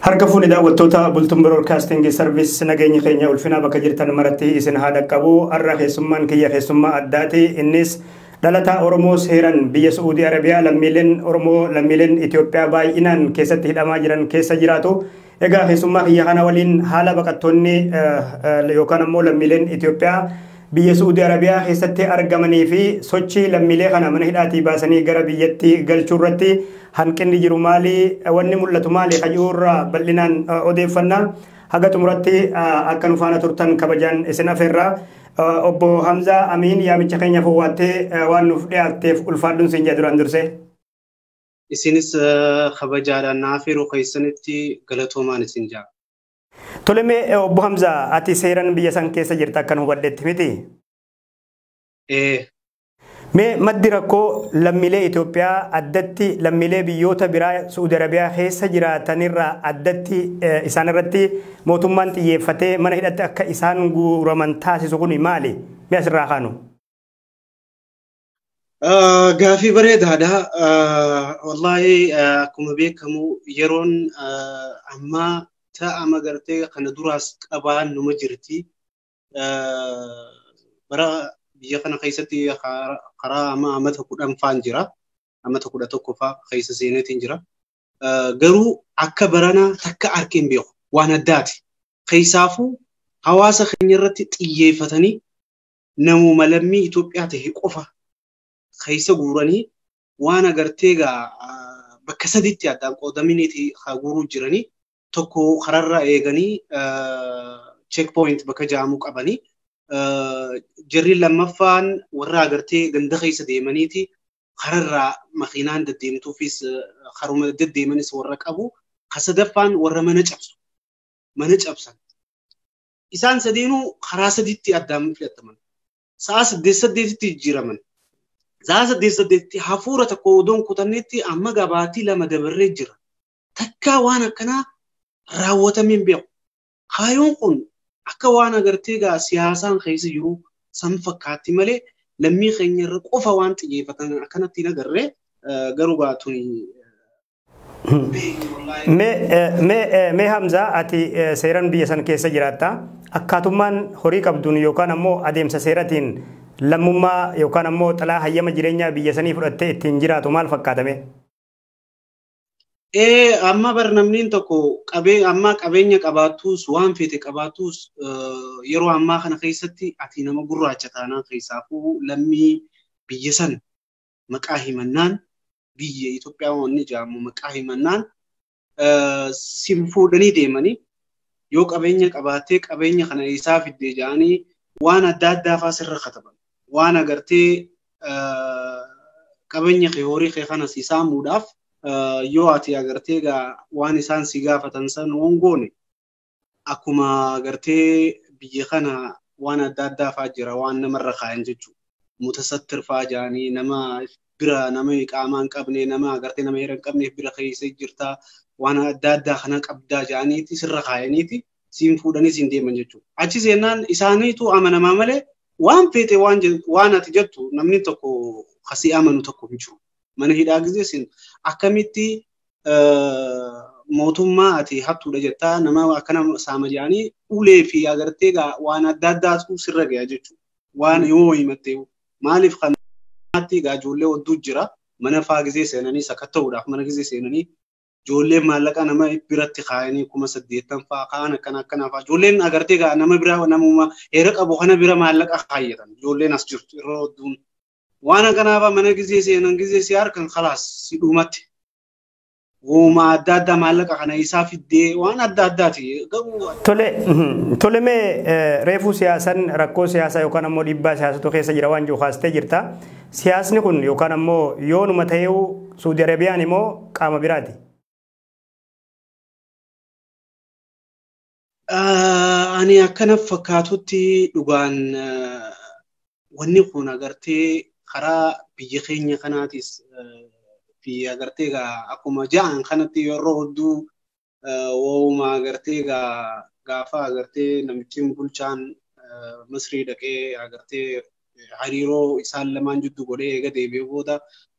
Harka fuuni daawwattoota Bultum Broadcasting Service nageenyi keenya ulfinaa bakka jirtan maratti isin haa dhaqqabu. Har'a keessummaan kiyya keessummaa addaati. Innis dhalataa Oromoo seeran biyya Su'uudii Arabiyaa lammiileen Oromoo lammiileen Itoophiyaa baay'inaan keessatti hidhamaa jiran keessa jiraatu. Egaa keessummaa kiyya kana waliin haala baqattoonni yookaan ammoo lammiileen Itoophiyaa Biyya Su'uudi Arabiyaa keessatti argamanii fi sochii lammiilee kana mana hidhaatii baasanii gara biyyatti galchuu irratti hanqinni jiru maali? Wanni mul'atu maali? Kan jiru irraa bal'inaan odeeffanna. Haga xumuratti akka nu faana turtan kabajaan isin afeerra. Obbo Hamzaa Amiin yaamicha keenyaaf owwaattee waan nuuf dhiyaatteef ulfaadhuun siin jedha duraan dursee. Isinis kabajaadhaan na afeeruu keessanitti galatoomaan isin jedha. Toleme obbo Hamza ati seeran biyya san keessa jirta akkan hubadhetti miti. Mee maddi rakkoo lammiilee Itoophiyaa addatti lammiilee biyyoota biraa Su'uudi Arabiyaa keessa jiraatanirraa addatti isaanirratti mootummaan xiyyeeffatee mana hidhatti akka isaan guuraman taasisu kun maali? Mee asirraa kaanu. Gaafii bareedaadha. Wallaahi akkuma beekamu yeroon ammaa ta'ama gartee kana duraas qabaan numa jirti. Bara biyya kana keessatti karaa amma amata kudhan faan jira. Amata kudha tokko faa keessa seeneetiin jira. Garuu akka baranaa takka arkee hin beeku. Waan addaati. Keessaafuu hawaasa keenya irratti xiyyeeffatanii namuma lammii Itoophiyaa ta'e qofa keessa guuranii waan agartee egaa bakka sadiitti addaan qoodaminiiti haa guuruu jiranii tokko kararra eeganii check point bakka ja'amuu qabanii jarri lammaffaan warra agartee ganda keessa deemaniiti kararraa makiinaan deddeemtuufis karuma deddeemanis warra qabu ka sadaffaan warra mana cabsu mana cabsan isaan sadeenuu karaa sadiitti addaan filataman. Sa'a saddeet saddeetitti jijjiiraman. Sa'a saddeet saddeetitti hafuura tokko odoon kutannetti amma gabaatii lama dabarree jira. Takkaa waan akkanaa raawwatamee hin beeku. Kaayoon kun akka waan agartee gaa siyaasaan keessa jiru san fakkaatti malee lammii keenya irra qofa waan xiyyeeffatan akkanatti hin agarre garuu gaa tuni Mee Hamzaa ati seeran biyya san keessa jiraatta. Akkaatummaan horii qabduun yookaan ammoo adeemsa seeratiin lammummaa yookaan ammoo xalaa hayyama jireenyaa biyya sanii fudhattee ittiin jiraatu maal fakkaatame? Ee amma bar namniin tokko qabee amma qabeenya qabaattus waan feete qabaattus yeroo ammaa kana keessatti ati nama gurraacha taanaan keessaafuu lammii biyya san maqaa himannaan biyya Itoophiyaa wanni jedhamu maqaa himannaan sin fuudhanii deemanii yoo qabeenya qabaattee qabeenya kana isaa fiddee jedhanii waan adda addaa fa'aa sirra kataban. Waan agartee qabeenya kee horii kee kana si saamuudhaaf yoo ati agartee waan isaan si gaafatan san hoongoone akkuma gartee biyya kana waan adda addaa fa'aa jira waan namarra kaayan jechuudha. Mutasattir fa'aa jaanii nama bira nama iqaamaa hin qabne nama agartee nama heera hin qabneef bira keessa jirta waan adda addaa kana qabdaa jaaniiti sirra kaayaniiti siin fuudhanii siin deeman jechuudha. Achi seenaan isaaniitu amanamaa malee waan feete waan je- waan ati jettu namni tokko kasii amanu tokko hin jiru. Mana hidhaa gisee siin akkamitti mootummaa ati hattuudha jettaa nama akkana saama jedhanii ulee fi agartee egaa waan adda addaatu sirra gaya jechuudha. Waan yoo himattee maaliif kan maatti egaa ijoollee odduu jira mana faa gizee seenanii sakatta'uudhaaf mana gizee seenanii ijoollee maallaqa nama biratti kaayanii kuma saddeettan faa kaan akkana akkana faa ijoolleen agartee egaa nama biraa namuma heera qabu kana bira maallaqa kaayyatan ijoolleen as jirtu irra odduun Waan akkanaafaa mana gizee seenan gizee si harkan kalaas si dhuumatti. Wooma adda addaa maallaqa kana isaa fiddee waan adda addaati garuu. Tole tole mee reefuu siyaasan rakkoo siyaasaa yookaan ammoo dhiibbaa siyaasatu keessa jira waan jiru kaastee jirta. Siyaasni kun yookaan ammoo yoonuma ta'eewu Suudi Arabiyaan immoo qaama biraati. Ani akkana fakkaatutti dhugaan wanni kun agartee karaa biyya keenya kanaatis fi agartee egaa akkuma ja'an kanatti yeroo hedduu waa'uma agartee egaa gaafa agartee namichiin bulchaan Misrii dhaqee agartee hariiroo isaan lamaan jiddu godhee eega deebi'ee booda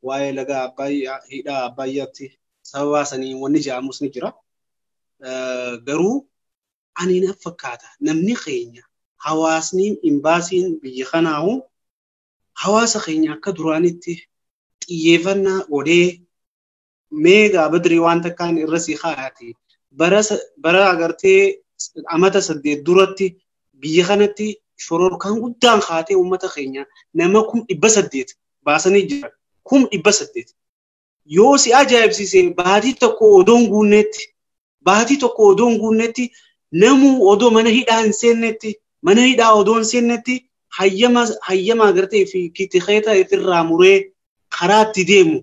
waa'ee laga Abbaayyaa hidhaa Abbaayyaatti sababaa saniin wanni ja'amus ni jira. garuu ani na fakkaata namni keenya hawaasni imbaasiin biyya kanaahu hawaasa keenya akka duraanitti xiyyeeffannaa godhee mee gaabadrii waan takkaan irra si kaa'ati bara agartee amata saddeet duratti biyya kanatti shororkaan guddaan kaatee uummata keenya nama kum dhibba saddeet baasanii jiran kum dhibba saddeet Yoo si ajaa'ibsiise baatii tokko odoo hin guunneetti baatii tokko odoo hin guunneetti namuu odoo mana hidhaa hin seenneetti mana hidhaa odoo hin seenneetti hayyama hayyama agartee fi kitikeeta irraa muree karaa itti deemu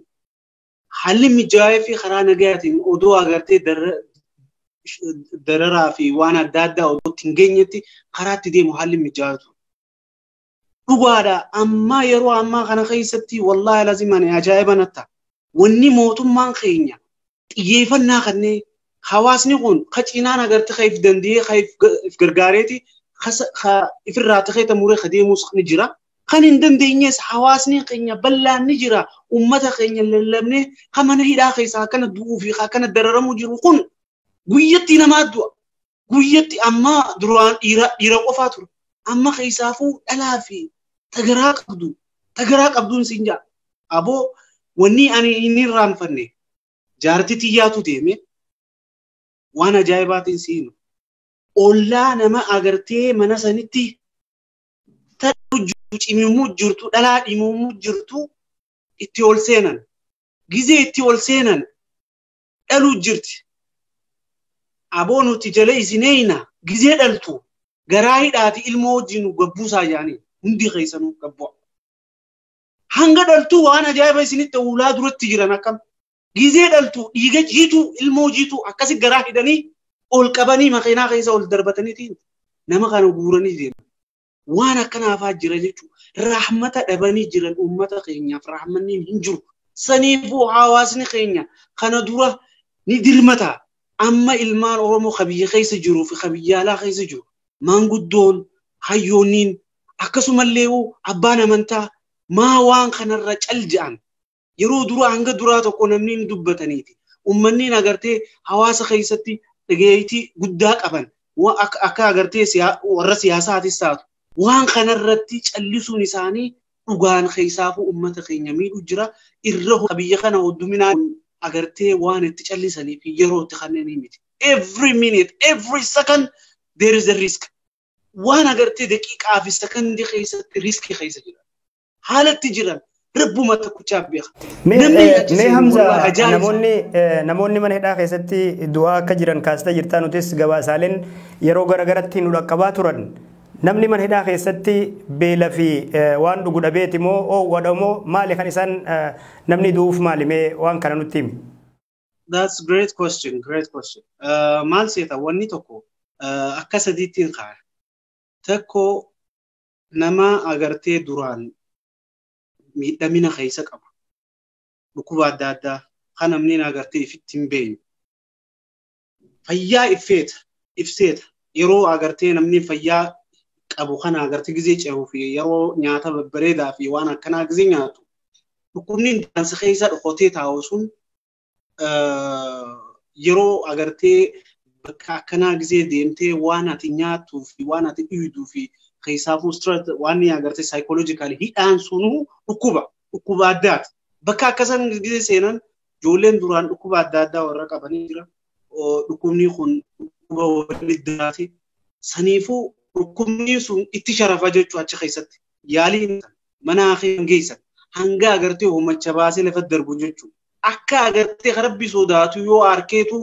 haalli mijaa'ee fi karaa nagayaatiin odoo agartee dararaa fi waan adda addaa odoo itti hin geenyetti karaa itti deemu haalli mijaa'atu. Dhugaadha ammaa yeroo ammaa kana keessatti wallaahi lazima ani ajaa'iba natta. Wanni mootummaan keenya xiyyeeffannaa kannee hawaasni kun ka cinaan agartee ka if danda'ee ka if gargaareeti ka ifirraa ta'ee ta muree ka deemuus ni jira. Kan hin dandeenyes hawaasni keenya bal'aan ni jira. Uummata keenya lallabnee ka mana hidhaa keessaa akkana du'uu fi akkana dararamuu jiru kun guyyatti namaa du'a. guyyatti amma duraan dhiira dhiira qofaa ture amma keessaafuu dhalaa fi tagaraa qabdu tagaraa qabduun siin jaa aboo wanni ani inni irraanfanne jaartii tiyyaatu deeme waan ajaa'ibaatiin si hima ollaa nama agartee mana sanitti ta'u jirtu cimimuu jirtu dhalaa dhimimuu jirtu itti ol seenan gizee itti ol seenan dhaluu jirti. Aboo nuti jala isin eeyna gizee dhaltu garaa hidhaati ilmoo wajjin nu gabbuusaa jaanii hundi keessanuu gabbu'a. Hanga dhaltuu waan ajaa'iba isinitti uulaa duratti jiran akkam. Gizee dhaltu dhiiga jiituu ilmoo jiituu akkasi garaa hidhanii ol qabanii makeenaa keessa ol darbataniitiin nama kana guuranii deeman. Waan akkana hafaa jira jechuudha. Rahmata dhabanii jiran uummata keenyaaf rahmanni hin jiru. Saniifuu hawaasni keenya kana dura ni dirmata. Amma ilmaan Oromoo ka biyya keessa jiruu fi ka biyya alaa keessa jiru maanguddoon, hayyoonniin akkasumallee abbaan amantaa maa waan kanarra cal ja'an Yeroo duraa hanga duraa tokko namni hin dubbataniiti. Uummanni agartee hawaasa keessatti dhageettii guddaa qaban akka agartee warra siyaasaatis taatu waan kanarratti callisuun isaanii dhugaan keessaafuu uummata keenya miidhu jira. Irra biyya kana hodduminaan agartee waan itti callisanii fi yeroo itti kanneen miti. Every minute, every second there is a risk. Waan agartee daqiiqaa fi sekondii keessatti riskii keessa jira. haalatti jiran rabbuma tokkichaaf beeka. Mee Namni eh, ajjeese mee Hamza wallahi ajaa'iba. namoonni eh, namoonni mana hidhaa keessatti du'aa akka jiran kaasita jirtaa nutis gabaasaaleen yeroo garagaratti nu dhaqqabaa turan namni mana hidhaa keessatti beela fi eh, waan dhugu dhabeeti moo oowwadha moo maali kan isaan eh, namni du'uuf maali mee waan kana nutti himi. That's great question, great question. Uh, maal seeta wanni tokko uh, akka sadiittiin kaa'e. Tokko Nama agartee duraan miidhamina keessa qabu dhukkuba adda addaa kan namni agartee ifitti hin beekne fayyaa ifeeta ifseeta yeroo agartee namni fayyaa qabu kana agartee gizee ce'uu fi yeroo nyaata babbareedaa fi waan akkanaa gizee nyaatu dhukkubni daansa keessa dhokotee taa'u sun yeroo agartee bakka akkanaa gisee deemtee waan ati nyaatuu fi waan ati dhiiduu fi keessaafuu stress waan ni agartee psychological hidhaan sunuu dhukkuba dhukkuba addaati. Bakka akkasan gisee seenan ijoolleen duraan dhukkuba adda addaa warra qabanii jira. Dhukkubni kun dhukkuba walitti diraati. Saniifuu dhukkubni sun itti sharafa jechuu achi keessatti yaalii mana hakiim geessan hanga agartee hoomacha baasee lafa darbu jechuudha. akka agartee ka rabbi sodaatu yoo arkeetu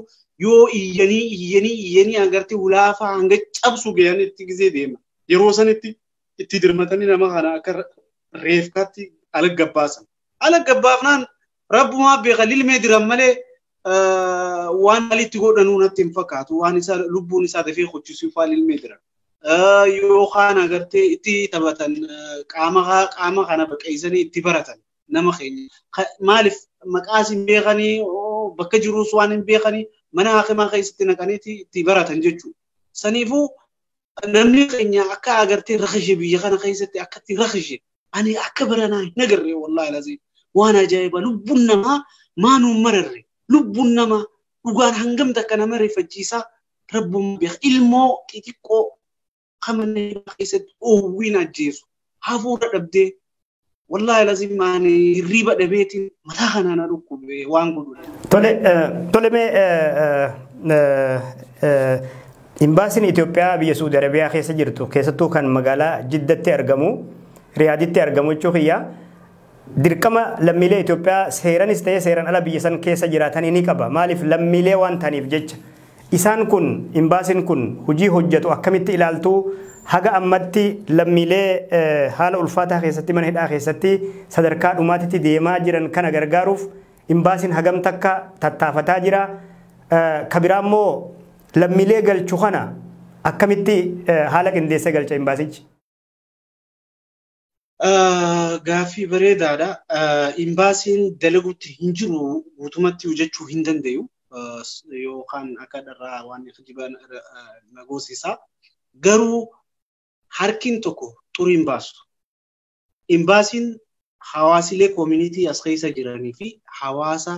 yoo iyyanii iyyanii iyyanii agartee hulaafaa hanga cabsu gayan itti gizee deema yeroo sanitti itti dirmatanii nama kana akka reefkaatti ala gabbaasan ala gabbaafnaan rabbumaa beeka lilmee diran malee waan alitti godhanuu natti hin fakkaatu waan isaa lubbuun isaa dafee hojjisuu faa lilmee diran yookaan agartee itti taphatan qaama qaama kana baqeessanii itti baratan nama keenya. Ka- Maaliif maqaas hin beekanii oo, bakka jiruus waan hin beekanii mana hakimaa keessatti naqaniiti itti baratan jechuudha. Saniifuu namni keenya akka agartee rakishe biyya kana keessatti akkatti rakishe ani akka baranaa hin agarre wallaahi laziin waan ajaa'ibaa lubbuun namaa maa nuun mararre lubbuun namaa dhugaan hangam takka nama rifachiisaa rabbuun beeka ilmoo xixiqqoo kan mana hidhaa keessatti oowwiin ajjeesu hafuura dhabdee wallaahi lazim ani hirriiba dhabeetiin mataa kanaa na dhukkube waan godhu dhabee. Tole, eh, tole mee eh, eh, eh, imbaasiin Itoophiyaa biyya Suudi Arabiyaa keessa jirtu keessattuu kan magaalaa Jiddatti argamu, Riyaaditti argamu jechuu kiyya Dirqama lammiilee Itoophiyaa seeranis ta'ee seeran ala biyya san keessa jiraatanii ni qaba. Maaliif lammiilee waan ta'aniif jecha. Isaan kun imbaasin kun hojii hojjatu akkamitti ilaaltuu haga ammatti lammiilee haala ulfaataa keessatti mana hidhaa keessatti sadarkaa dhumaatitti deemaa jiran kana gargaaruuf imbaasin hagam takka tattaafataa jira. Ka biraa immoo lammiilee galchu kana akkamitti haala qindeessee galcha imbaasichi. Gaaffii bareedaadha. Imbaasiin dalagutti hin jiru guutumatti hojjechuu hin danda'u. Yookaan akka dharraa waan kijibaan na goosisaa. Garuu harkiin tokko xurii hin baasu. Imbaasiin hawaasilee koomunitii as keessa jiranii fi hawaasa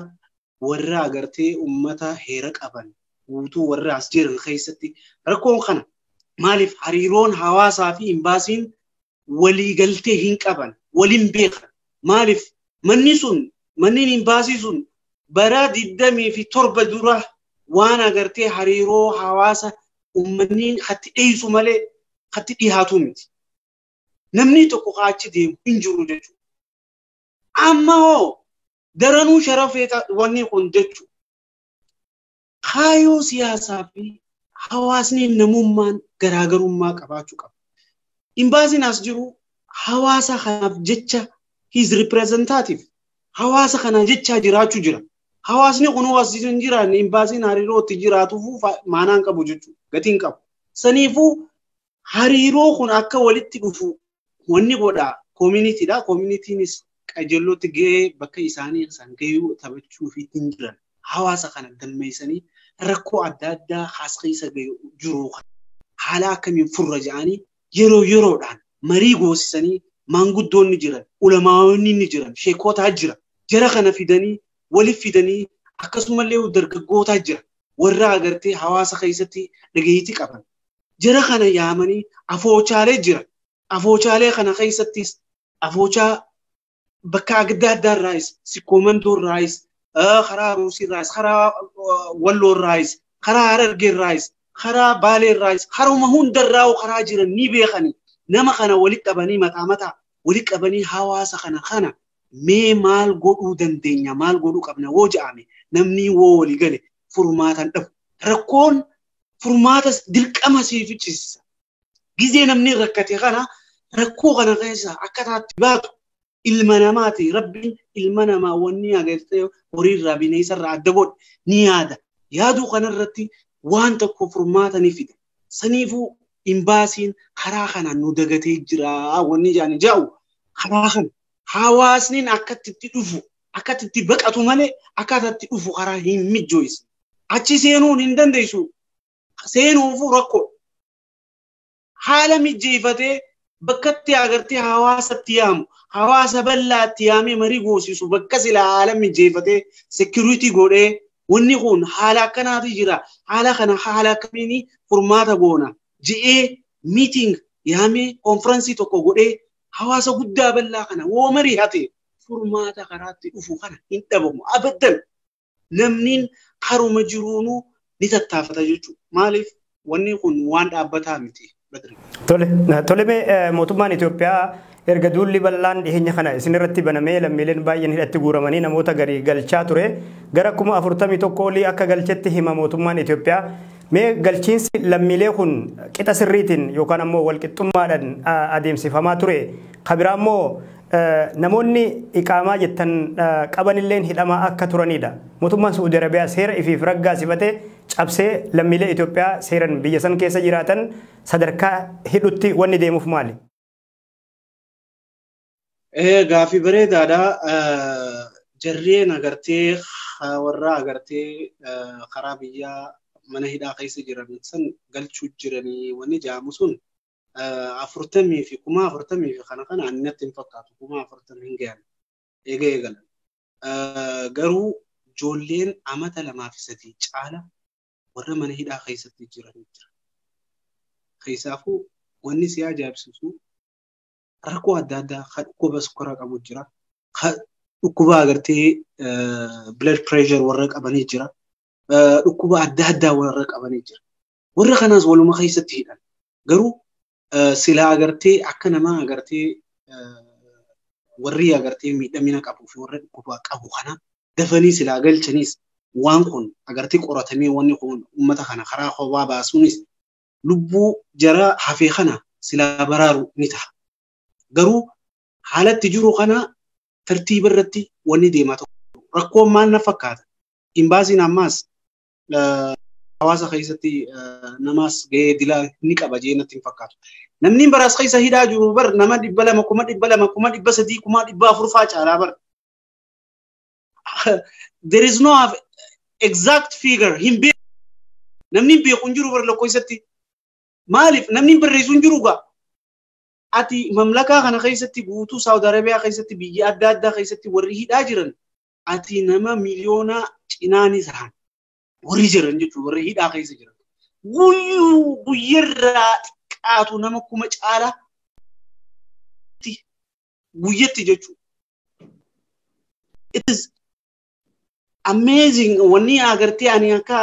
warra agartee ummata heera qaban guutuu warra as jiran keessatti rakkoon kana maaliif hariiroon hawaasaa fi imbaasiin walii galtee hin qaban waliin beekan maaliif manni sun manni imbaasii sun bara 27 dura waan agartee hariiroo hawaasa ummanni katti dhiyeessu malee katti dhiyaatu miti. Namni tokko kaachi deemu hin jiru jechuudha. Amma hoo daranuu sharafee wanni kun jechu kaayoo siyaasaa fi hawaasni namummaan garaagarummaa qabaachuu qaba. Imbaasiin as jiru hawaasa kanaaf jecha his representative hawaasa kanaa jechaa jiraachuu jira. Hawaasni kun as hin jiraanne imbaasiin hariiroo itti jiraatuuf maanaan qabu jechuudha. Gatiin qabu. Saniifuu Hariiroo kun akka walitti dhufu wanni godha koominiitiidha. Koominiitiinis qajeellootti gahee bakka isaanii isaan gahuu taphachuu fi ittiin jiran hawaasa kana galmeessanii rakkoo adda addaa haas keessa jiru kana haala akkamiin furra jedhanii yeroo yeroodhaan marii goosisanii maanguddoonni jiran, ulamaawonni ni jiran, sheekotaa jira. Jara kana fidanii waliif fidanii akkasumallee dargaggootaa jira. Warra agartee hawaasa keessatti dhageettii qaban jara kana yaamanii afoochaalee jira. Afoochaalee kana keessattis afoochaa bakka adda addaa irraayis sikkoomandoo irraayis karaa aruusii irraayis karaa walloo irraayis karaa harargee irraayis karaa baalee irraayis karuma hunda irraa karaa jiran ni beekani nama kana walitti qabanii mataa mataa walitti qabanii hawaasa kana kana mee maal godhuu dandeenya maal godhuu qabna woo ja'ame namni woo walii gale furmaatan dhabu rakkoon furmaatas dirqama sii ficcisiisa. Gizee namni rakkate kana rakkoo kana keessaa akka taatti baatu ilma namaati. Rabbiin ilma namaa wanni agartee horiirraa bineensarraa adda godhe ni yaada. Yaaduu kanarratti waan tokko furmaata ni fida. Saniifuu imbaasiin karaa kanaan nu dagatee jira wanni jaani jaa'u karaa kana hawaasniin akkatti itti dhufu akka itti baqatu malee akka itti dhufu karaa hin mijjooysu. Achi seenuun hin dandeessu. Seenuufuu rakkoo. Haala mijjeeffatee bakkatti agartee hawaasatti yaamu hawaasa bal'aatti yaamee marii goosisu bakka silaa haala mijjeeffatee sekiriitii godhee wanni kun haala akkanaatu jira haala kana haala akkamiin furmaata goona je'ee miiting yaamee konfiraansii tokko godhee hawaasa guddaa bal'aa kana woo marii hate furmaata karaatti dhufu kana hin dhabamu abaddan namniin karuma jiruunuu ni tattaafata jechuudha. Maaliif wanni kun waan dhaabbataa miti badri. Tole, tole mee eh, mootummaan Itoophiyaa erga duulli bal'aan dhiheenya kana isin irratti banamee lammiileen baay'een hidhatti guuramanii namoota garii galchaa ture gara kuma afurtamii tokko olii akka galchetti hima mootummaan Itoophiyaa Mee galchiinsi lammiilee kun qixa sirriitiin yookaan ammoo walqixxummaadhaan adeemsifamaa ture. Ka biraa immoo namoonni iqaamaa jettan qabanilleen hidhamaa akka turanidha. Mootummaan Su'uudi Arabiyaa seera ifiif raggaasifate cabsee lammiilee Itoophiyaa seeran biyya san keessa jiraatan sadarkaa hidhutti wanni deemuuf maali? Gaaffii bareedaadha. Jarreen agartee warra agartee karaa biyyaa mana hidhaa keessa jiran san galchuu jiranii wanni jedhamu sun afurtamii fi kuma afurtamii fi kana kana ani natti hin fakkaatu kuma afurtamii hin gahan eega eegalan. Garuu ijoolleen amata lamaa fi sadii caala warra mana hidhaa keessatti jiran jira. Keessaafuu wanni si ajaa'ibsiisu rakkoo adda addaa kan dhukkuba sukkaraa qabu jira. Kan dhukkuba agartee blood pressure warra qabanii jira. Dhukkuba adda addaa warra qabanii jira. Warra kanaas waluma keessatti hidhan. Garuu silaa agartee akka namaa agartee warri agartee miidhamina qabuu fi warra dhukkuba qabu kana dafanii silaa galchaniis waan kun agartee qoratamee wanni kun uummata kana karaa kophaa baasuunis lubbuu jaraa hafee kana silaa baraaru ni taha. Garuu haalatti jiru kana tartiiba irratti wanni deemaa tokko rakkoon maal na fakkaata. Imbaasiin ammaas hawaasa keessatti namaas gahee dilaa ni qaba jee natti hin fakkaatu. Namni baraas keessa hidhaa jiru bar nama dhibba lama kuma dhibba lama kuma dhibba sadii kuma dhibba afur faa caalaa bar. there is no have exact figure hin beeku namni hin beeku hin jiru bara lakkoofsatti maaliif namni hin barreessu hin jiru gaa ati mamlakaa kana keessatti guutuu saawud arabiyaa keessatti biyya adda addaa keessatti warri hidhaa jiran ati nama miliyoona cinaanis haan warri jiran jechuudha warri hidhaa keessa jiran guyyuu guyyarraa xiqqaatu nama kuma caalaa guyyatti jechuudha. It is amazing wanni agartee ani akka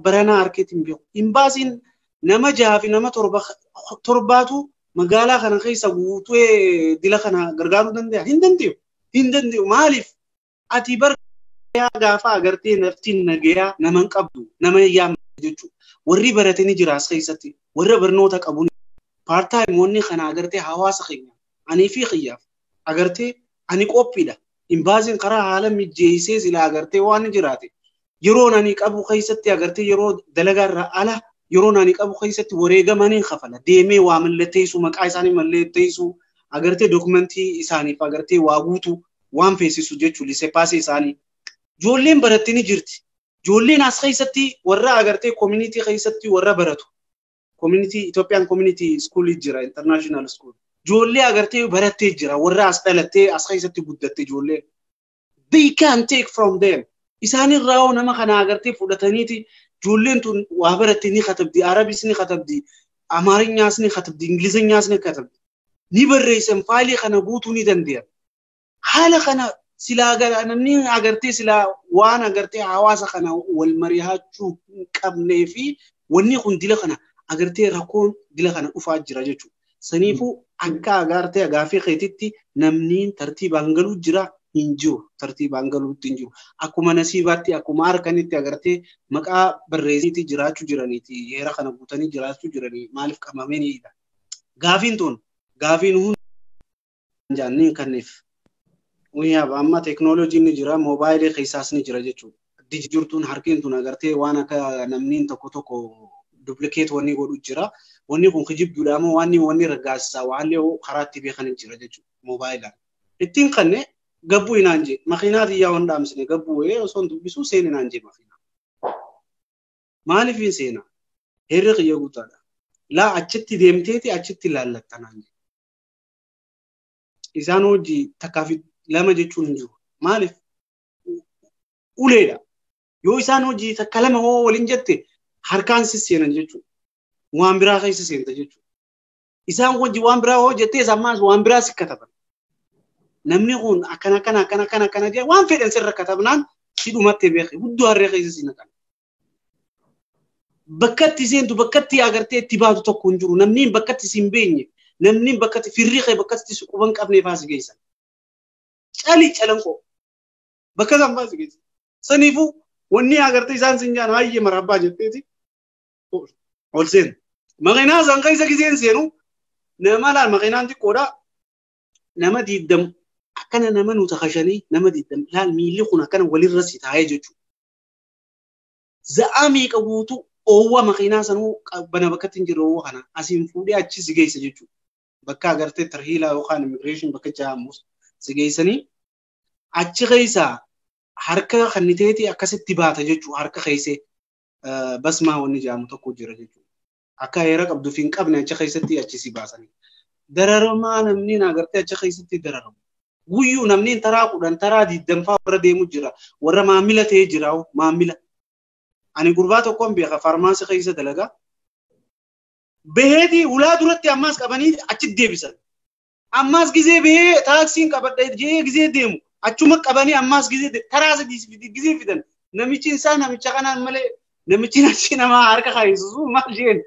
baranaa harkeetti hin beeku. Imbaasiin nama jaha fi nama torba torbaatu magaalaa kana keessa guutee dila kana gargaaruu danda'a. Hin danda'u. Hin danda'u. Maaliif? Ati bar nagayaa gaafa agartee naftiin nagayaa nama hin qabdu nama hin yaamne jechuudha. Warri barate ni jira as keessatti warra barnoota qabu paartaayimoonni kana agartee hawaasa keenya anii fi kiyyaaf agartee ani qophiidha. Imbaaziin karaa haala mijeessee sila agartee waan jiraate yeroon ani qabu keessatti agartee yeroo dalagaa irraa ala yeroon ani qabu keessatti wareegama ni kafala deemee waa mallatteessu maqaa isaanii mallatteessu agartee dookumentii isaaniif agartee waa guutu waan feesisu jechuu lisepaasii isaanii ijoolleen baratte ni jirti ijoolleen as keessatti warra agartee koominitii keessatti warra baratu koominitii Itoophiyaan koominitii iskuulii jira intarnaashinaal iskuul ijoollee agartee barattee jira warra as dhalattee as keessatti guddatte ijoollee they can take from them isaan irraa hoo nama kana agartee fudhataniiti ijoolleen tun waa baratti ni katabdi arabis ni katabdi amaarinyaas ni katabdi ingilizanyaas ni katabdi ni barreessan faayilii kana guutuu ni danda'an haala kana silaa gara namni agartee silaa waan agartee hawaasa kana wal mari'achuu hin qabnee fi wanni kun dila kana agartee rakkoon dila kana dhufaa jira jechuudha. Saniifuu akka agaartee agaaffii keetitti namniin tartiibaan galuu jira hin jiru. Tartiibaan galuutti hin jiru. Akkuma nasiibaatti akkuma harkanitti agartee maqaa barreessaniiti jiraachuu jiraniiti. Heera kana guutanii jiraachuu jiranii maaliif qabamaniidha. Gaafiin tun gaafiin hundi jaanne hin kanneef. Wiyaaba amma teeknooloojiin ni jira moobaayilii keessaas ni jira jechuudha. Diji jirtuun harkeen tun agartee waan akka namniin tokko tokko duplikeet wanni godhu jira. Wanni kun kijibduudha moo wanni wanni raggaasisaa waallee karaa itti beekan hin jira jechuudha moobaayilaan. Ittiin kanne gabbuu hinaan jee makiinaa tiyyaa waan dhaamsine gabbuu wayee osoo hin dubbisuu seen hinaan jee makiinaa. Maaliif hin seena? Heerri kiyya guutaadha. Laa achitti deemteeti achitti laallattanaan jee. isaan hojii takkaa fi lama jechuun hin jiru. Maaliif? Uleedha. Yoo isaan hojii takka lama hoo waliin jette harkaan si seenan jechuudha. Waan biraa keessa seenta jechuudha. Isaan hojii waan biraa hoo jettee isaan maas waan biraa si kataban. Namni kun akkana akkana akkana akkana akkana jee waan fedhan sirra katabnaan si dhumattee beekne guddoo harree keessa si naqan. bakkatti seentu bakkatti agartee itti baatu tokko hin jiru namni bakkatti si hin beenye namni bakkatti firri kee bakkatti si quban qabnee faasi geessan cali calanqoo bakka isaan faasi geessan saniifuu wanni agartee isaan sin jaan hayyee marabbaa jetteeti ol seenu maqinaa san keessa giseen seenu nama laal maqinaan xiqqoodha nama diiddam akkana nama nuta kashanii nama diiddam laal miilli kun akkana walirra si taa'ee jechuudha. za'aa meeqa guutuu oowwa makiinaa sanuu bana bakkatti hin jirre oowwa kana asiin fuudhee achi si geessa jechuudha. Bakka agartee tarhiilaa yookaan immigireeshin bakka ja'amus si geessanii achi keessaa harka kanniteeti akkasitti baata jechuudha harka keessee basmaa wanni ja'amu tokko jira jechuudha. Akka heera qabdu fi hin qabne achi keessatti achi si baasanii. Dararamaa namni na agartee achi keessatti dararamu. Guyyuu namni taraa kudhan taraa digdamfaa warra deemu jira. Warra maamila ta'ee jira maamila. Ani gurbaa tokkoon beeka faarmaasii keessa dalagaa. Baheeti ulaa duratti ammaas qabanii achi deebisan. Ammaas gizee bahee taaksiin qabadha jedhee gizee deemu achuma qabanii ammaas gizee de- taraa sadii fi- gizee fidan namichi isaa namicha kanaan malee namichi namichi namaa harka kaayisusu maal jeen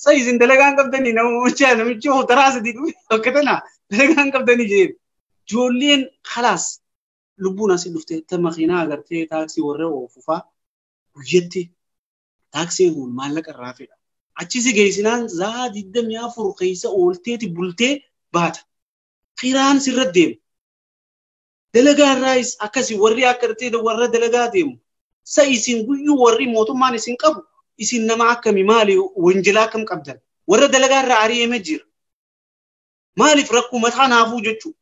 sa isin dalagaan qabdanii namicha namichi hoo taraa sadii dhufe akka tana dalagaan qabdanii jeen ijoolleen kalaas lubbuun asii dhuftee ta makiinaa agartee taaksii warra oofufaa guyyatti taaksiin kun maallaqa irraa fedha. Achi si geessinaan zaa 24 keessa oolteeti bultee baata. Kiraan sirra deema. Dalagaa irraayis akkasi warri akka dhitee warra dalagaa deemu. Sa isin guyyuu warri mootummaan isin qabu isin nama akkami maali wanjilaa akkam qabdan. Warra dalagaa irraa ari'eeme jira. Maaliif rakkoo mataa naafuu jechuudha.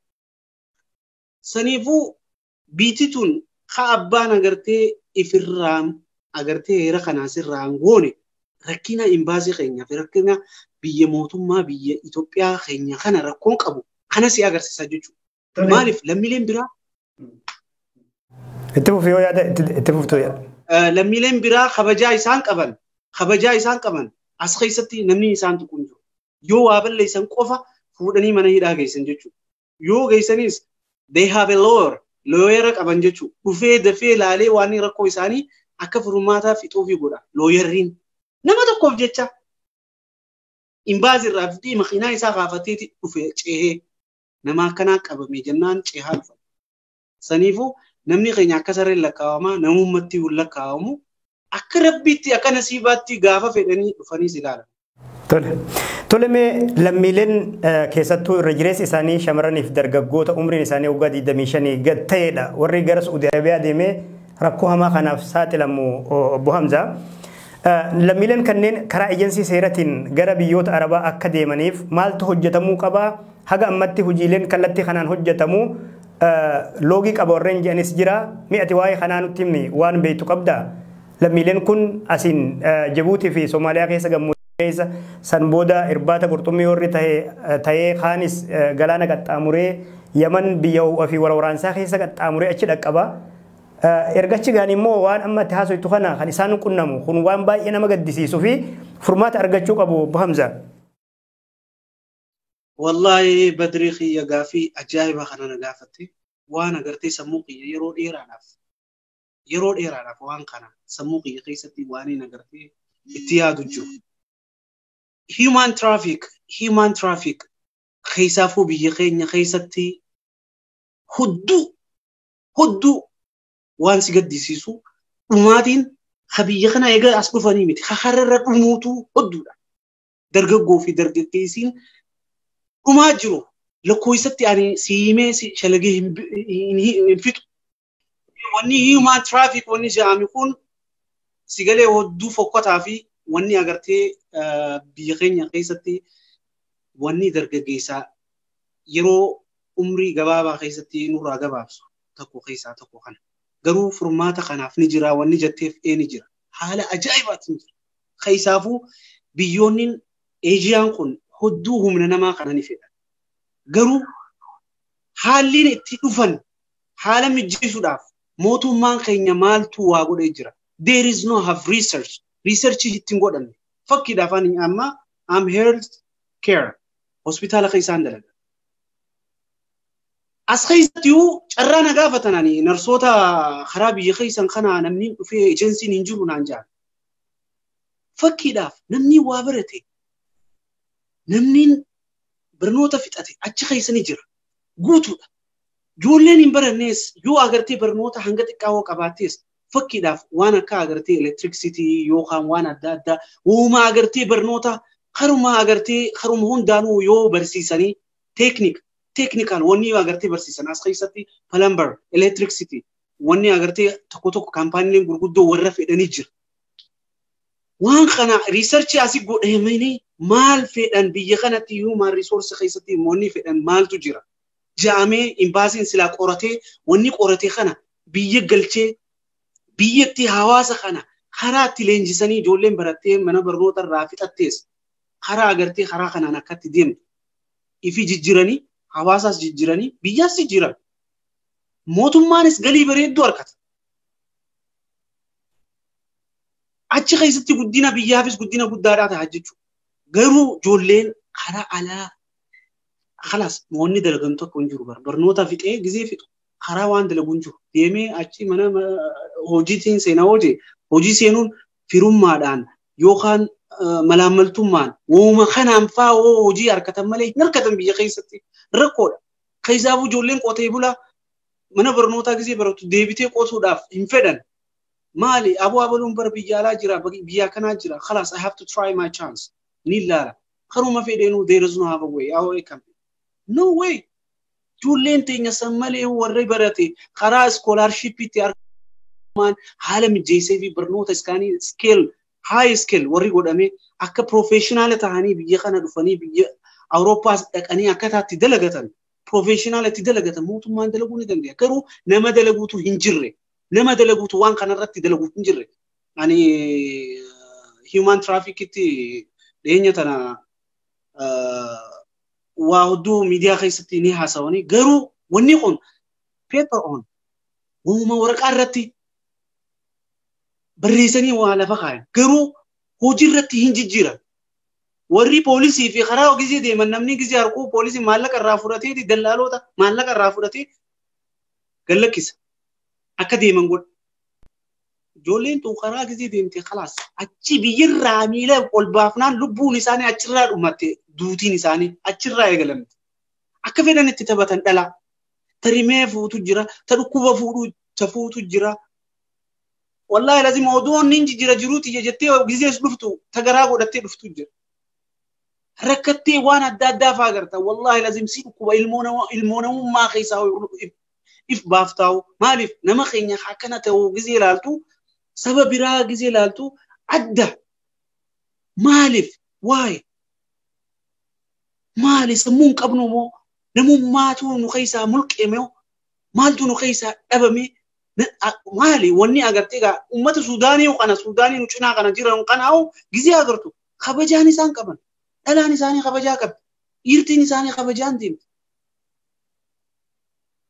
Saniifuu Biitti tun ka abbaan agartee ifirraan agartee heera kanaa sirraan goone rakkina imbaasii keenyaaf rakkina biyya mootummaa biyya Itoophiyaa keenya kana rakkoon qabu kana si agarsiisa jechuudha. Maaliif lammiileen biraa Itti fufi yoo yaada itti fuftu yaada. lammiileen biraa kabajaa isaan qaban kabajaa isaan qaban as keessatti namni isaan tuqu hin jiru. Yoo waa balleessan qofa fuudhanii mana hidhaa geessan jechuudha. yoo geessanis they have a lawyer looyera qaban jechuudha. Dhufee dafee laalee waan rakkoo isaanii akka furmaataa fixuufi godha looyerriin. Nama tokkoof jecha imbaazii irraa fidee makiinaa isaa kaafateeti dhufe ceehee nama akkanaa qabame jennaan ceehaa dhufa. Saniifuu namni keenya akka sareen lakkaa'amaa namummatti lakkaa'amu Akka rabbiitti akka nasiibaatti gaafa fedhanii dhufanii si ilaalan. Tole. Tole mee lammiileen keessattuu irra jireessi isaanii shamarraniif dargaggoota umriin isaanii waggaa 25 gad ta'edha. Warri gara Suudi Arabiyaa deemee rakkoo hamaa kanaaf saaxilamu obbo Hamzaa. Lammiileen kanneen karaa ejensii seeratiin gara biyyoota Arabaa akka deemaniif maaltu hojjetamuu qabaa? Haga ammatti hojiileen kallattii kanaan hojjetamu Loogii qaba warreen jedhanis jira. Mee ati waa'ee kanaa nutti himi waan beektu qabda. Lammiileen kun asiin Jabuutii fi Somaaliyaa keessa gammoojjii keessa san booda irbaata qurxummii warri ta'ee kaanis galaana qaxxaamuree Yaman biyya ho'a fi waraansaa keessa qaxxaamuree achi dhaqqaba. Erga achi ga'anii immoo waan amma itti haasoftu kana kan isaan qunnamu kun waan baay'ee nama gaddisiisuu fi furmaata argachuu qabu Obbo Hamzaa. Wallaahi badrii kiyya gaafii ajaa'ibaa kana na gaafatte waan agartee sammuu kiyya yeroo dheeraadhaaf yeroo dheeraadhaaf waan kana sammuu kiyya keessatti waan hin agartee itti yaadu jiru. Human traffic human traffic keessaafuu biyya keenya keessatti hudduu hudduu waan si gaddisiisu dhumaatiin ha biyya kana egaa as dhufanii miti ha hararra dhumuutu hudduudha. dargaggoo fi dargaggeessiin dhumaa jiru lakkoofsatti ani si himee si shalagee hin bi- hin- hin- hin fixu. Wanni human traffic wanni jedhame kun si galee hodduu fokkataa fi wanni agartee eh, biyya keenya keessatti wanni dargaggeessaa yeroo umrii gabaabaa keessatti nurraa gabaabsu tokko keessaa tokko kana. Garuu furmaata kanaaf ni jira wanni jetteef ee ni jira. Haala ajaa'ibaatiin jira. Keessaafuu biyyoonni Eejiyaan kun hedduu humna namaa kana ni fedhan. Garuu haalliin itti dhufan haala mijjeessuudhaaf mootummaan keenya maaltu waa godhee jira. There is no have research. Research itti hin godhamne. Fakkiidhaaf ani amma am health care hospitaala keessaan dalaga. As keessatti iyyuu carraa na gaafatan ani narsoota karaa biyya keessan kana namni dhufee ejensiin hin jiru naan jedhan. Fakkiidhaaf namni waa barate namni barnoota fixate achi keessa ni jira. Guutuudha. Ijoolleen hin barannees yoo agartee barnoota hanga xiqqaa hoo qabaattees fakkiidhaaf waan akka agartee elektiriksitii yookaan waan adda addaa uuma agartee barnoota karuma agartee karuma hundaanuu yoo barsiisanii teeknik teeknikaal wanni yoo agartee barsiisan as keessatti palambar elektiriksitii wanni agartee tokko tokko kaampaaniileen gurguddoo warra fedhanii jira. Waan kana riisarchii asii godhamanii maal fedhan biyya kanatti human resource keessatti wanni fedhan maaltu jira. Jaamee imbaasiin silaa qoratee wanni qoratee kana biyya galchee biyyatti hawaasa kana karaa itti leenjisanii ijoolleen barattee mana barnoota irraa fixattees karaa agartee karaa kanaan akkatti deemtu ifi jijjiranii hawaasaas jijjiranii biyyaas jijjiran. Mootummaanis galii bareedduu argata. Achi keessatti guddina biyyaafis guddina guddaadhaa ta'a jechuudha. Garuu ijoolleen karaa alaa kalas moonni dalagan tokko hin jiru barnoota fixee gizee fixu karaa waan dalagu hin jiru deemee achi mana hojiitiin seenaa hojii hojii seenuun firummaadhaan yookaan malaammaltummaan wooma kanaan fa'aa hojii harkatan malee hin harkatan biyya keessatti rakkoodha. Keessaafuu ijoolleen qotee bulaa mana barnootaa gisee baratu deebitee qotuudhaaf hin fedhan. Maali aboo abaluun bara biyya alaa jira biyya kanaa jira kalaas I have to try my chance ni laala. Karuma fedheenuu there is no have a way how I can no way. Ijoolleen teenya san malee warri barate karaa iskoolaarshiippiitti argaman haala mijeessee fi barnoota iskaanii iskeel high skill warri godhamee akka professional ta'anii biyya kana dhufanii biyya Awurooppaas dhaqanii akkataa itti dalagatan professional itti dalagatan mootummaan dalaguu ni danda'a. Garuu nama dalaguutu hin jirre. Nama dalaguutu waan kanarratti dalaguu hin jirre. Ani human traffickitti dhiyeenya tana waa hedduu miidiyaa keessatti ni haasawanii garuu wanni kun paper on uuma waraqaa irratti barreessanii waa lafa kaayan garuu hojii irratti hin jijjiiran. Warri poolisii fi karaa gisee deeman namni gisee harkuu poolisii maallaqa irraa fudhatee dallaaloota maallaqa irraa fudhatee gallakkisa akka deeman godha. Ijoolleen tun karaa gisee deemte kalaas achi biyyarraa miila ol baafnaan lubbuun isaanii achirraa dhumatte duutiin isaanii achirraa eegalamte. Akka fedhan itti taphatan dhalaa. Ta rimee fuutu jira, ta dhukkuba fuudhu ta fuutu jira, Wallaahi lazim odoo inni jijjiira jiruu tiyya jettee gizees dhuftu tagaraa godhattee dhuftu jira. Rakkattee waan adda addaa faa agarta. Wallaahi lazim si dhukkuba ilmoo namummaa keessaa if baaftaa'u. Maaliif nama keenya akkana ta'u gizee ilaaltu saba biraa gizee ilaaltu adda. Maaliif waa'ee maali sammuu hin qabnu moo namummaatu nu keessaa mulqeeme maaltu nu keessaa dhabame maali wanni agartee gaa uummata Suudaanii kana Suudaanii nu cinaa kana jiran kanaa'u gizee agartu kabajaan isaan qaban dhalaan isaanii kabajaa qabdi dhiirtiin isaanii kabajaan deemti.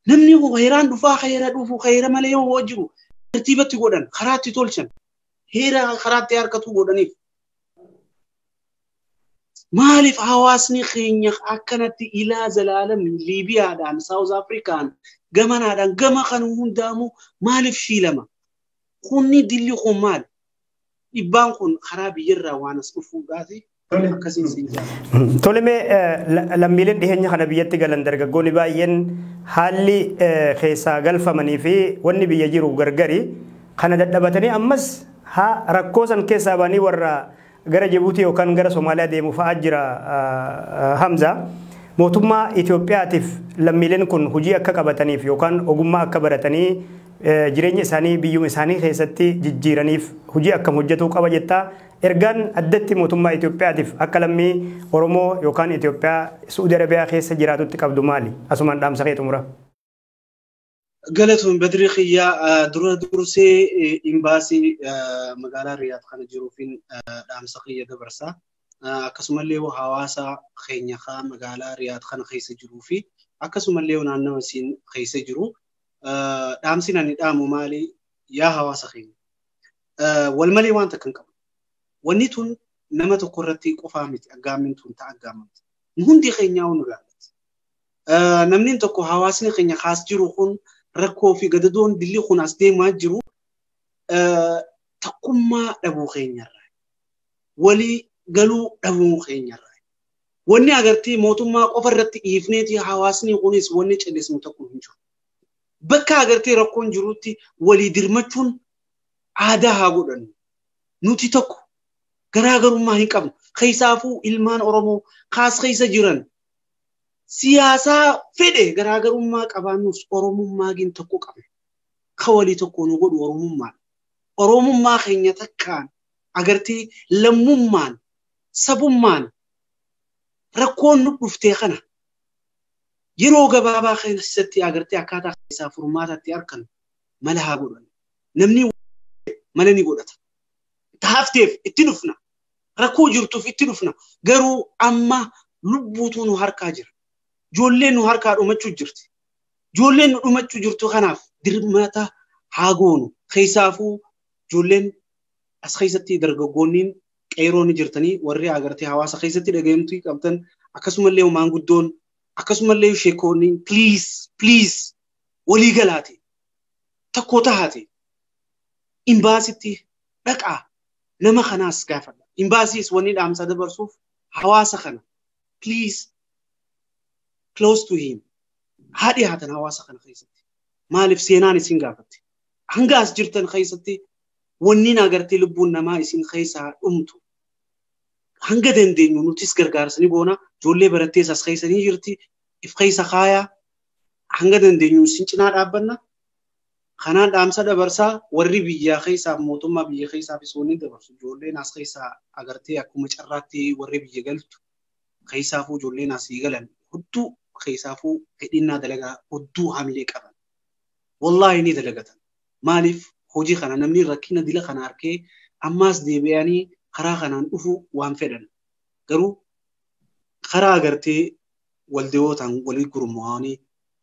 Namni kun heeraan dhufaa heera dhufu heera malee yoo hoo jiru tartiibatti godhan karaatti tolchan heera karaatti harkatu godhaniif. Maaliif hawaasni keenya akkanatti ilaa zalaalam Liibiyaadhaan, Saawuz Afrikaan, gamanaadhaan, gama kan hundaamu maaliif shiilama? Kunni dilli kun maali? Dhibbaan kun karaa biyyarraa waan as dhufuudhaati. Akkasiin siin jaallatu. Tolemee lammiileen dhiheenya kana biyyatti galan dargaggoonni baay'een haalli keessaa galfamanii fi wanni biyya jiru gargari kana dadhabatanii ammas rakkoo san keessaa ba'anii warra Gara Jibuutii yookaan gara Somaaliyaa deemu fa'aa jira Hamza. Mootummaa Itoophiyaatiif lammiileen kun hojii akka qabataniif yookaan ogummaa akka baratanii jireenya isaanii biyyuma isaanii keessatti jijjiiraniif hojii akkam hojjetuu qaba jetta. Ergaan addatti mootummaa Itoophiyaatiif akka lammii Oromoo yookaan Itoophiyaa Suudi Arabiyaa keessa jiraatutti qabdu maali? Asumaan dhaamsa kee xumura. Galatoon Badri Kiyyaa dura dursee imbaasii magaalaa Riyaad kana jiruufiin dhaamsa kiyya dabarsa. Akkasumallee hawaasa keenya kaa magaalaa Riyaad kana keessa jiruu fi akkasumallee naannawa isiin keessa jiru dhaamsi ani dhaamu maali yaa hawaasa keenya. Wal malee waan takka hin qabu. Wanni tun nama tokko irratti qofaa miti aggaammin tun ta'a aggaamamti. Hundi keenyaa nu ilaallatti. namni tokko hawaasni keenya kaas jiru kun rakkoo fi gadadoon dilli kun as deemaa jiru takkummaa dhabuu keenyarraa walii galuu dhabuu keenyarraa wanni agartee mootummaa qofa irratti dhiifneeti hawaasni kunis wanni callisnu tokko hin jiru. Bakka agartee rakkoon jirutti walii dirmachuun aadaa haa godhannu. Nuti tokko garaagarummaa hin qabnu. Keessaafuu ilmaan Oromoo kaas keessa jiran siyaasaa fedhe garaagarummaa qabaannus Oromummaa gin tokko qabna. Ka walii tokko nu godhu Oromummaadha. Oromummaa keenya takkaan agartee lammummaan sabummaan rakkoon nu dhuftee kana yeroo gabaabaa keessatti agartee akkaataa keessaa furmaatatti arkan mala haa godhan. Namni mala ni godhata. Itti hafteef itti dhufna. rakkoo jirtuuf itti dhufna garuu amma lubbuutu nu harkaa jira ijoolleen nu harkaa dhumachuu jirti ijoolleen nu dhumachuu jirtu kanaaf dirmata haa goonu keessaafuu ijoolleen as keessatti dargaggoonniin qeeroon jirtanii warri agartee hawaasa keessatti dhaga'amtuu qabdan akkasumallee maanguddoon akkasumallee sheekoonni please please walii galaate tokko tahaate imbaasitti dhaqaa nama kanaas gaafadha. Imbaasiis wanni dhaamsa dabarsuuf hawaasa kana please close to him haa dhiyaatan hawaasa kana keessatti. Maaliif seenaan isin gaafatti? Hanga as jirtan keessatti wanniin agartee lubbuun namaa isin keessaa dhumtu hanga dandeenyu nutis gargaarsa ni goona. Ijoollee barattees as keessa ni jirti. If keessa kaayaa hanga dandeenyu isin cinaa dhaabbanna. Kanaan dhaamsa dabarsaa warri biyyaa keessaa mootummaa biyya keessaafis wanni dabarsu ijoolleen as keessaa agartee akkuma carraatti warri biyya galtu keessaafuu ijoolleen asii galan hudduu keessaafuu fedhinnaa dalagaa hudduu hamilee qaban. Wallaahi ni dalagatan. Maaliif hojii kana namni rakkina dila kana harkee ammaas deebi'anii karaa kanaan dhufu waan fedhan. Garuu karaa agartee waldewootaan walii gurmaa'anii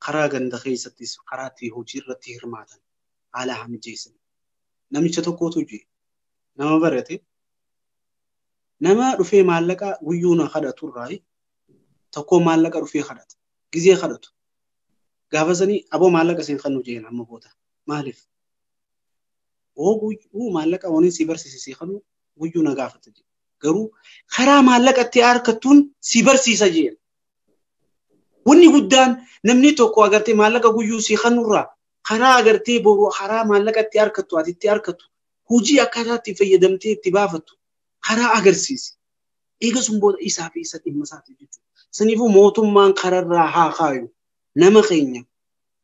karaa ganda keessattis karaa itti hojii irratti hirmaatan haala haa mijeessan. Namicha tokkotu jira. Nama barate nama dhufee maallaqa guyyuu na kadhatu irraa tokkoo maallaqa dhufee kadhata. Gizee kadhatu. Gaafa sanii aboo maallaqa isin kan nu jeen amma booda. Maaliif? Hoo guyyuu maallaqa waniin si barsiise si kanu guyyuu na gaafata jee. Garuu karaa maallaqa itti harkattuun si barsiisa jeen. Wanni guddaan namni tokko agartee maallaqa guyyuu si kanurraa karaa agartee boru karaa maallaqa itti harkattu ati itti harkattu hojii akkaataa itti fayyadamtee itti baafattu karaa agarsiisi. Eega sun booda isaa fi isa dhimma isaati jechuudha. Saniifuu mootummaan kararraa haa kaayu. Nama keenya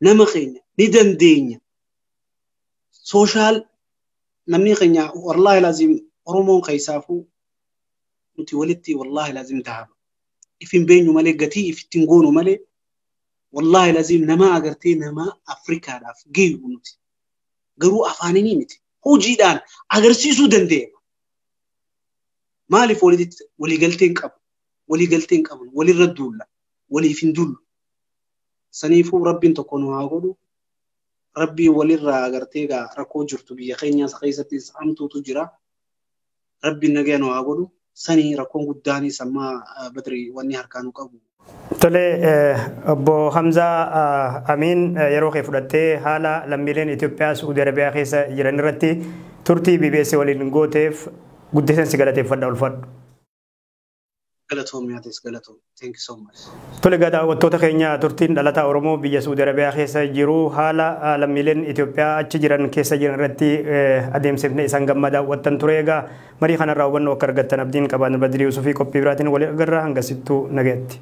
nama keenya ni dandeenya. Sooshaal namni keenya wallaahi laazim Oromoon keessaafuu nuti walitti wallaahi laazim dahaba. if hin beenyu malee gatii if ittiin goonu malee wallaahi laziim namaa agartee namaa Afrikaadhaaf geeyu nuti garuu afaaninii miti hojiidhaan agarsiisuu dandeenya. Maaliif walitti waliigaltee hin qabu waliigaltee hin qabnu walirra duulla waliif hin duullu saniifuu rabbiin tokko nu haa godhu rabbii walirraa agartee gaa rakkoo jirtu biyya keenyaas keessatti hamtuutu jira. rabbiin nagaya nu haa godhu sanii rakkoon guddaanii sammaa badri wanni harkaa nu qabu. Tole obbo Hamzaa Amiin yeroo kee fudhattee haala lammiileen Itoophiyaa Suudi Arabiyaa keessa jiran irratti turtii BBS waliin gooteef guddiseen si galateeffadha ulfaadhu. Galatoomi atis galatoomi. Thank you so much. Tole egaa daawwattoota keenya turtiin dhalataa Oromoo biyya Suudi Arabiyaa keessa jiru haala ah, lammiileen Itoophiyaa achi jiran keessa jiran irratti eh, adeemsifne isaan gammaa daawwattan ture egaa marii kanarraa hubannoo akka argattan abdiin qabaan Badrii Yuusufii qophii biraatiin waliin agarra hangasittuu nagayatti.